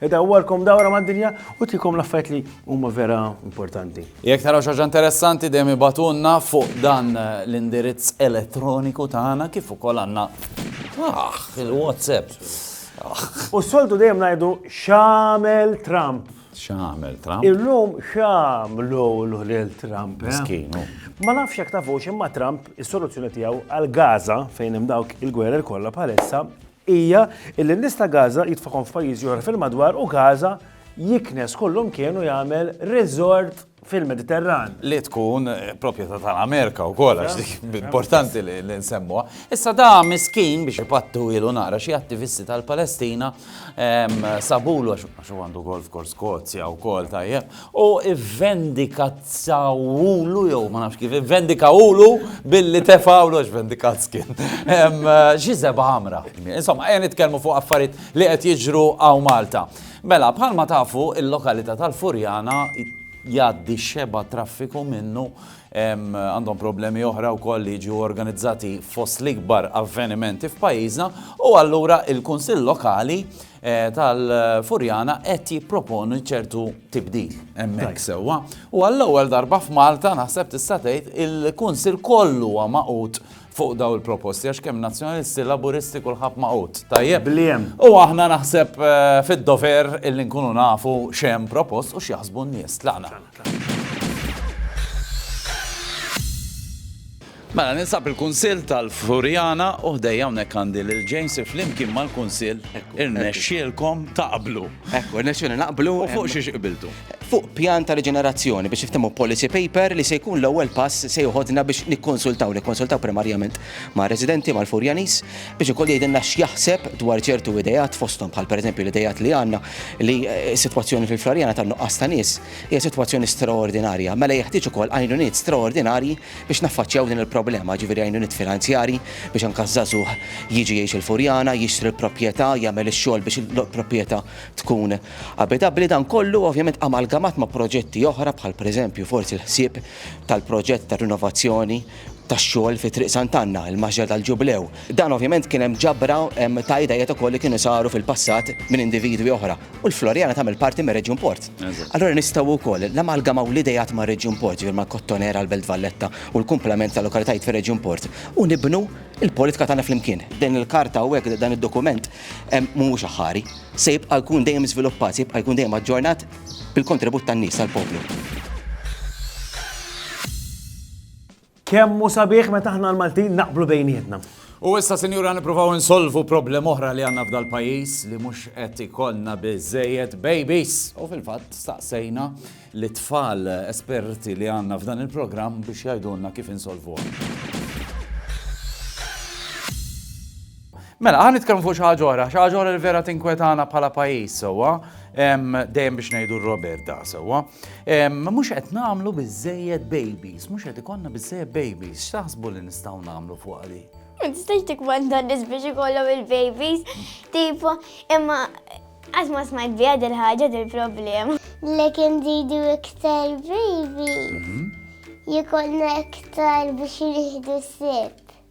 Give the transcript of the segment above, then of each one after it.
Idawwarkom dawra mad-dinja u tikom l-affarijiet li huma vera importanti. Jekk taraw xaġa interessanti dejjem ibatulna fuq dan l-indirizz elettroniku tagħna kif ukoll għandna ah, il-WhatsApp. Ah. U soltu dejjem ngħidu x'għamel Trump. X'għamel Trump? Illum x'għamlu l-ħliel Trump. Eh? Miskinu. Ma nafx jekk tafux imma Trump is-soluzzjoni tiegħu għal Gaza fejn hemm dawk il-gwerer kollha bħalissa hija illi n-nies ta' Gaza jitfagħhom f'pajjiżi oħra fil-madwar u Gaza jiknes kollhom kien u jagħmel resort fil-Mediterran. Li tkun proprjetà tal-Amerika wkoll għax dik importanti li nsemmuha. Issa da miskin biex ipattu ilu nara xi attivisti tal-Palestina sabulu għax huwa għandu golf course Skozja wkoll tajjeb u ivvendikazzawulu, jew ma nafx kif, ivvendikawulu billi tefawlu, għax vendikazz kien. Xi seba' ħamra. Insomma, ejja nitkellmu fuq affarijiet li qed jiġru hawn Malta. Mela, bħalma tafu, il-lokalità tal-Furjana jgħaddi xebgħa traffiku minnu għandhom problemi oħra wkoll li jiġu organizzati fost l-ikbar avvenimenti f'pajjiżna u allura il-Kunsill Lokali tal-Furjana qed jipproponi ċertu tibdil hemmhekk sewwa. U għall-ewwel darba f'Malta naħseb tista' tgħid il-Kunsill kollu huwa magħqud fuq daw il-proposti għax kemm Nazzjonalisti, Laburisti kulħadd magħqud. Tajjeb. Bliem. U aħna naħseb eh, fid-dover illi nkunu nafu x'hemm propost u x'jaħsbu n-nies. Tlaqna. Mela, ninsab il-Kunsill tal-Furjana u ħdejja hawnhekk għandi lil James li flimkien mal-Kunsill irnexxielkom taqblu. Ekku, irnexxielna naqblu. U fuq xiex qbiltu? Fuq pjan ta' riġenerazzjoni biex niftehmu policy paper li se jkun l-ewwel pass se joħodna biex nikkonsultaw, nikkonsultaw primarjament mar-residenti, mal-Furjaniż, biex ukoll jgħidilna x'jaħseb dwar ċertu ideat fosthom bħal pereżempju l-ideat li għandna li s-sitwazzjoni fil-Furjana tan-nuqqas ta' nies hija sitwazzjoni straordinarja. Mela jeħtieġ ukoll għajnuniet straordinarji Biex naffaċċjaw din il-problema, jiġifieri għajnuniet finanzjarji biex anke ż-żagħżugħ jiġi jgħix il-Furjana, jixtri l-proprjetà, jagħmel ix-xogħol biex il-proprjetà tkun abitabbli, dan kollu ovvjament amalgamat ma' proġetti oħra bħal pereżempju forsi l-ħsieb tal-proġett ta' rinovazzjoni tax-xogħol fi Triq Sant'Anna, il-Maxxer tal-Ġublew. Dan ovvjament kien hemm ġabra ta' ideat ukoll li kienu saru fil-passat minn individwi oħra. u l-Floriana tagħmel parti mir reġjun Port. Allora nistgħu wkoll l-amalgamaw l-idejat ma' reġjun Port, ġifier ma' Kottonera, l-Belt Valletta u l-kumplament ta' lokalitajiet fir reġjun Port u nibnu l-politika tagħna flimkien. Din il-karta u hekk dan id-dokument mhuwiex aħħari. Se jibqa' jkun dejjem żviluppat, se jibqa' jkun dejjem aġġornat bil-kontribut tan-nies, tal-poplu. Kemm hu sabiħ meta aħna l-Maltin naqblu bejnietna. U issa sinjura nippruvaw insolvu problem oħra li għandna f'dal-pajjiż li mhux qed ikollna biżejjed babies. U fil-fatt staqsejna li tfal esperti li għandna f'dan il-programm biex jgħidulna kif insolvu. Mela, għan nitkellmu fuq xi ġora, xaġora li vera tinkwetana bħala pajjiż sewwa, dejjem biex ngħidu Robert da sewwa. Mhux qed nagħmlu biżejjed babies, mhux qed ikollna biżejjed babies, x'taħsbu li nistgħu nagħmlu fuq għali? Ma tistax tikwanda nies biex ikollhom il-babies, tipo, imma għaż ma smajt biha dil-ħaġa dil-problema. Lekin zidu iktar babies, mhm. jikollna iktar biex jieħdu sib.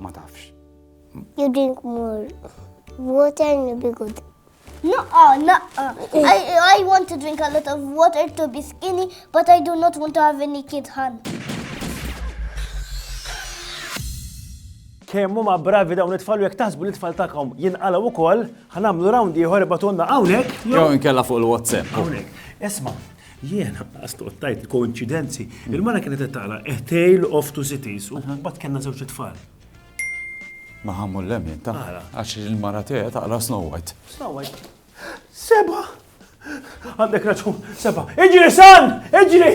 Ma tafx. You drink more water and you'll be good. No, uh, no. Uh, I, I want to drink a lot of water to be skinny, but I do not want to have any kid hand. Kemm huma bravi dawn it-tfal jekk taħsbu li tfal tagħkom jinqalgħu wkoll, ħanamlu round ieħor ibatunna hawnhekk. Jew inkella fuq il-WhatsApp. Hawnhekk. Isma', Jiena ascoltajt il-koinċidenzi. Il-mara kienet qed taqra A Tale of Two Cities u mbagħad kellna żewġ tfal. Ma ħammu l-lemin ta' għax il-mara tiegħi taqra Snow White. Snow White. Seba! Għandek raġun, seba! Iġri san! Iġri!